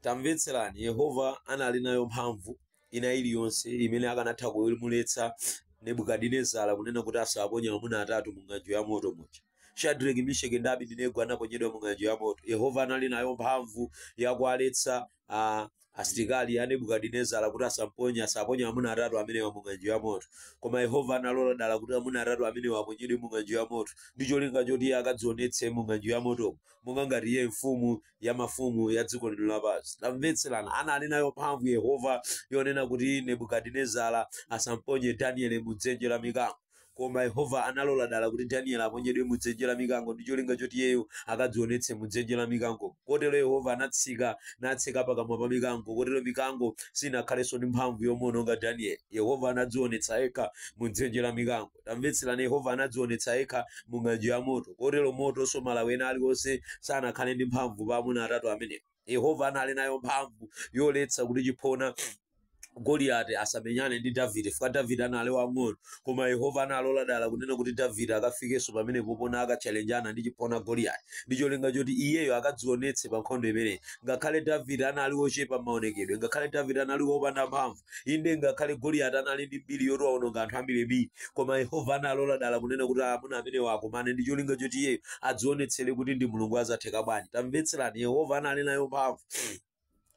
tamvetserani yehova anali nayo mphamvu ina iliyonse imene akanatha kumuletsa nebukadinezara kunena kuti asamponye asaponye amuna atatu mu ng'anjo ya moto muja shadraki misheki ndi abidinego anaponyedwa mu ng'anjo ya moto yehova anali nayo mphamvu yakuwaletsa ah, asilikali a nebukadinezara kuti asamponye asaponye amuna atatu amenewa mu ng'anjo ya moto koma yehova analola dala kuti amuna atatu amenewa aponyedwe mu ng'anjo ya moto ndi cholinga choti iye akadzionetse mu ng'anjo ya motomo monga ngati iye mfumu ya mafumu ya dziko lino lapansi tamvetserani anali nayo mphamvu yehova yonena kuti nebukadinezara asamponye danieli mu dzenje la mikango koma yehova analola dala kuti danieli aponyedwe mu dzenje la mikango ndi cholinga choti iyeyo akadzionetse mu dzenje la mikango kotero yehova anatseka natseka pakamwa pa mikango kotero mikango sinakhalenso ndi mphamvu yomuononga danieli yehova anadzionetsa yekha mu dzenje la mikango tamvetserani yehova anadzionetsa yekha mu ng'anjo ya moto kotero motonso malawi ena aliwonse sanakhale ndi mphamvu pa amuna atatu amenewo yehova anali nayo mphamvu yoletsa kuti chiphona goliyati asamenyane ndi davide chifukwa davide anali wang'ono koma yehova analola dala kunena kuti davide akafikenso pamene popona akatchalenjana ndi chiphona goliyati ndi cholinga choti iyeyo akadzionetse pa nkhondo imeneyi ngakhale davide anali wochepa m'maonekedwe ngakhale davide anali wopanda mphamvu inde ngakhale goliyati anali ndi mbiri yoti waononga anthu ambirimbiri koma yehova analola dala kunena kuti amuna amenewa akumane ndi cholinga choti iyeyo adzionetsere kuti ndi mulungu wazatheka bwanji tamvetserani yehova anali nayo mphamvu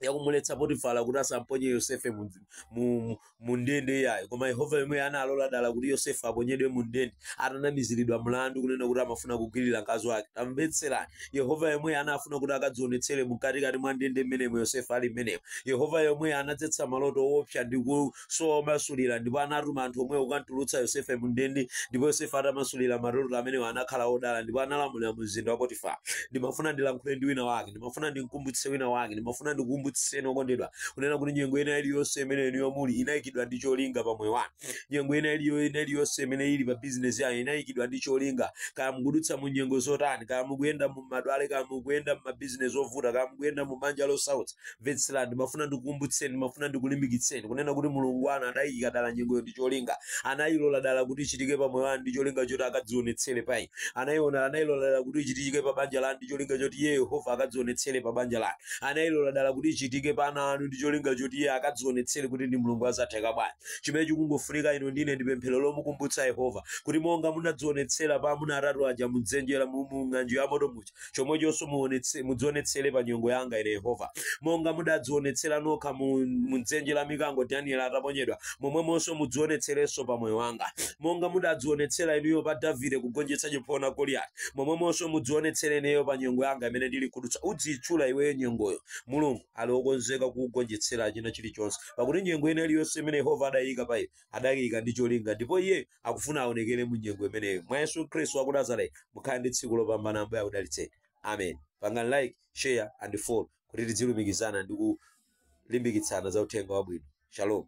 yakumuletsa potifala kuti asamponye yosefe mu, mu, mu, mu ndende iyayi koma yehova yemweyo analola dala kuti yosefe aponyedwe mu ndende atanamiziridwa mlandu kunena kuti amafuna kugwirira mkazi wake tamvetserani yehova yemweyo anafuna kuti akadzionetsere mkatikati mwa ndende mmenemo yosefe ali mmenemo yehova yemweyo anadzetsa maloto owopsa ndi kusowa omasulira ndipo anatuma anthu omwewo kukamtulutsa yosefe mu ndende ndipo yosefe atamasulira maloto amenewo anakhala odala ndipo analamulira mu mzinda wa potifara ndimafuna ndilankhule ndi wina wake ndimafuna ndimkumbutsitse wina wake ndimafuna ndikukumbutsitseni okondedwa kunena kuti nyengo ina iliyonse imene inuyo muli inayikidwa ndi cholinga pa moyo wanu nyengo ina iliyo ina iliyonse imene ili pa bizinesi yanu inayikidwa ndi cholinga kaya mukudutsa mu nyengo zotani kaya mukuyenda mu matenda kaya mukuyenda mu mabizinesi ovuta kaya mukuyenda mu banja losautsa mvetserani ndimafuna ndikukumbutseni ndimafuna ndikulimbikitseni kunena kuti mulungu wanu anayika dala nyengoyo ndi cholinga anayilola dala kuti ichitike pa moyo wanu ndi cholinga choti akadzionetsere pa inu anayiona anayilola dala kuti ichitike pa banja lanu ndi cholinga choti iye yehova akadzionetsere pa banja lanu anayilola dala kuti ichitike pa ana anu ndi cholinga choti iye akadzionetsere kuti ndi mulungu wazatheka bwanji chimene chikungofunika inu ndine ndi pemphero lomukumbutsa yehova kuti monga munadzionetsera pa amuna atatu aja mudzenje la mu mu ng'anjo ya moto muja chomwechonso muonetse- mudzionetsere pa nyengo yanga ine yehova monga mudadzionetsera nokha mu mu dzenje la mikango danieli ataponyedwa momwemonso mudzionetserenso pa moyo wanga monga mudadzionetsera inuyo pa davide kugonjetsa chiphona goliyati momwemonso mudzionetsere ineyo pa nyengo yanga imene ndili kudutsa udziyitchula iweyo nyengoyo mulungu ali okonzeka kukugonjetsera china chilichonse pakuti nyengo ina iliyonse imene yehova adayika pa iwe adayika ndi cholinga ndipo iye akufuna aonekere mu nyengo imeneyo mwa yesu khristu wa ku nazareti mukhale ndi tsiku lopambana ambuye akudalitseni amen pangani like share and follow kuti tidzilumikizana ndi kulimbikitsana za uthenga wabwino shalom